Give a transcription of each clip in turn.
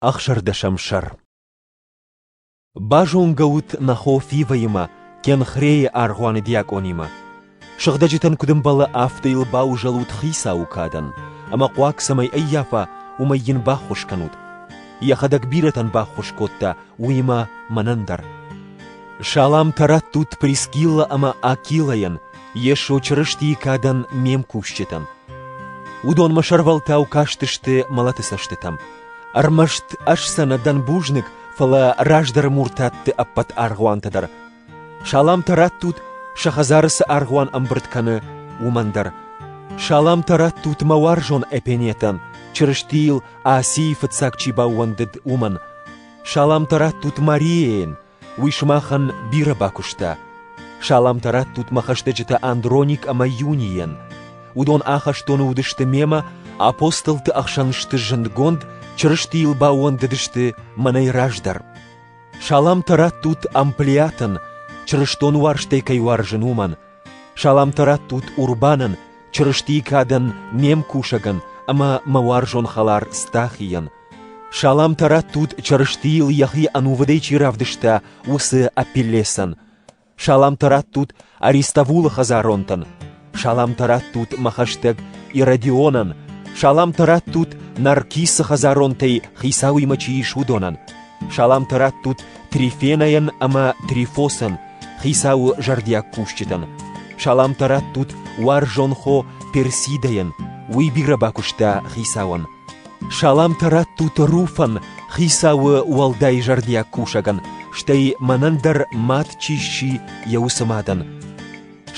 Ӕхсӕрдӕсӕм сӕр Базонгӕ ут нӕ хо Фивӕимӕ, Кенхрейы аргъуаны диакъонимӕ. Сыгъдӕджытӕн куыд ӕмбӕлы, афтӕ йыл баузӕлут хицауы кадӕн, ӕмӕ хъуаг цӕмӕй ӕййафа, уымӕй йын баххуыс кӕнут. Йӕхӕдӕг бирӕтӕн баххуыс кодта, уыимӕ мӕнӕн дӕр. Саламтӕ раттут Прискилла ӕмӕ Акилайӕн, Йесо Чырыстийы кадӕн ме мкусджытӕн. Уыдонмӕ сӕрвӕлтау кастысты мӕлӕты цӕстытӕм. Ӕрмӕст ӕз сӕ нӕ дӕн бузныг, фӕлӕ раздӕры муртатты ӕппӕт аргъуантӕ дӕр. Саламтӕ раттут, сӕ хӕдзары цы аргъуан ӕмбырд кӕны, уымӕн дӕр. Саламтӕ раттут мӕ уарзон Эпенетӕн, Чырыстийыл Асийы фыццаг чи баууӕндыд, уымӕн. Саламтӕ раттут Марияйӕн, Уый сымахӕн бирӕ бакуыста. Саламтӕ раттут мӕ хӕстӕджытӕ Андроник ӕмӕ Юнийӕн. Уыдон ахӕстоны уыдысты мемӕ, апостолты ӕхсӕн сты зындгонд, Чырыстийыл баууӕндыдысты мӕнӕй раздӕр. Саламтӕ раттут Амплиатӕн, чырыстон уарзтӕй кӕй уарзын, уымӕн. Саламтӕ раттут Урбанӕн, Чырыстийы кадӕн, ме мкусӕгӕн ӕмӕ мӕ уарзон хӕлар Стахийӕн, Саламтӕ раттут, Чырыстийыл йӕхи ӕнувыдӕй чи равдыста, уыцы Апеллесӕн. Саламтӕ раттут Аристовулы хӕдзаронтӕн. Саламтӕ раттут мӕ хӕстӕг Иродионӕн. Саламтӕ раттут Наркисы хӕдзаронтӕй хицауимӕ чи ис, уыдонӕн. Саламтӕ раттут Трифенӕйӕн ӕмӕ Трифосӕн, хицауы зӕрдиаг кусджытӕн. Саламтӕ раттут уарзон хо Персидӕйӕн, уый бирӕ бакуыста хицауӕн. Саламтӕ раттут Руфӕн, хицауы уӕлдай зӕрдиаг кусӕгӕн, стӕй мӕнӕн дӕр мад чи сси йӕ усы мадӕн.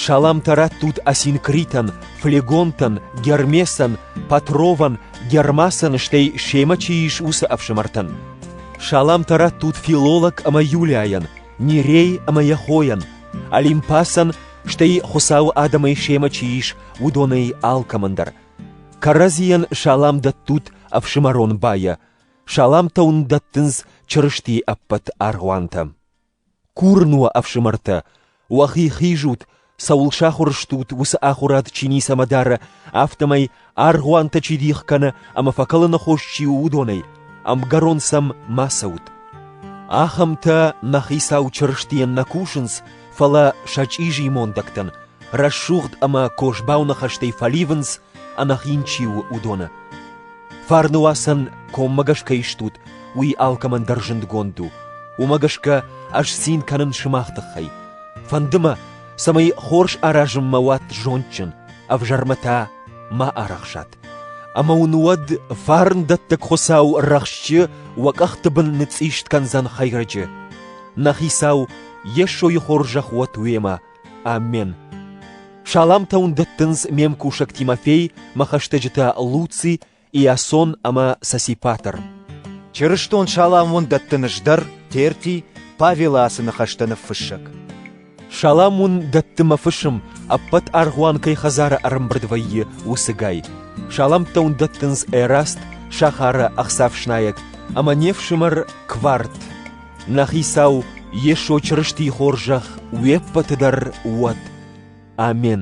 Саламтӕ раттут Осинкритӕн, Флегонтӕн, Гермесӕн, Патровӕн, Гермасӕн, стӕй семӕ чи ис уыцы ӕфсымӕртӕн. Саламтӕ раттут филолог ӕмӕ Юлиайӕн, Нерей ӕмӕ йӕ хойӕн, Олимпасӕн, стӕй Хуыцауы адӕмӕй семӕ чи ис, уыдонӕй алкӕмӕн дӕр – Кӕрӕдзийӕн салам дӕттут ӕфсымӕрон байӕ, саламтӕ уын дӕттынц Чырыстийы ӕппӕт аргъуантӕ. Курын уӕ, ӕфсымӕртӕ, уӕхи хизут, цӕуыл сахуыр стут уыцы ахуырад чи ницӕмӕ дары, афтӕмӕй аргъуантӕ чи дих кӕны ӕмӕ фӕкӕлыны хос чи у, уыдонӕй ӕмгӕрон сӕм ма цӕут. Ахӕмтӕ нӕ Хицау Чырыстийӕн нӕ кусынц, фӕлӕ сӕ чъизи мондӕгтӕн рӕсугъд ӕмӕ козбау ныхӕстӕй фӕливынц, ӕнӕхин чи у, уыдоны. Фарнуацӕн коммӕгӕс кӕй стут, уый алкӕмӕн дӕр зындгонд у. Уымӕ гӕсгӕ ӕз цин кӕнын сымах тыххӕй. Фӕнды мӕ, цӕмӕй хорз аразынмӕ уат зондджын, ӕвзӕрмӕ та ма арӕхсат. Ӕмӕ уын уӕд фарндӕттӕг Хуыцау рӕхсчы уӕ къӕхты бын ныцъист кӕндзӕн хӕйрӕджы. Нӕ хицау Йесойи хорзӕх уӕд уемӕ! Амен! Саламтӕ уын дӕттынц ме мкусӕг Тимофей, мӕ хӕстӕджытӕ Луци, Иасон ӕмӕ Сосипатр. Чырыстон салам уын дӕттын ӕз дӕр, Терти, Павелы ацы ныхӕстӕ ныффыссӕг. Салам уын дӕтты мӕ фысым, ӕппӕт аргъуан кӕй хӕдзары ӕрӕмбырд вӕййы, уыцыгай. Саламтӕ уын дӕттынц Эраст, сахары ӕхцафснайӕг, ӕмӕ не фсымӕр Кварт. Нӕ Хицау Йесо Чырыстийы хорзӕх уе ппӕты дӕр уӕд! Амин.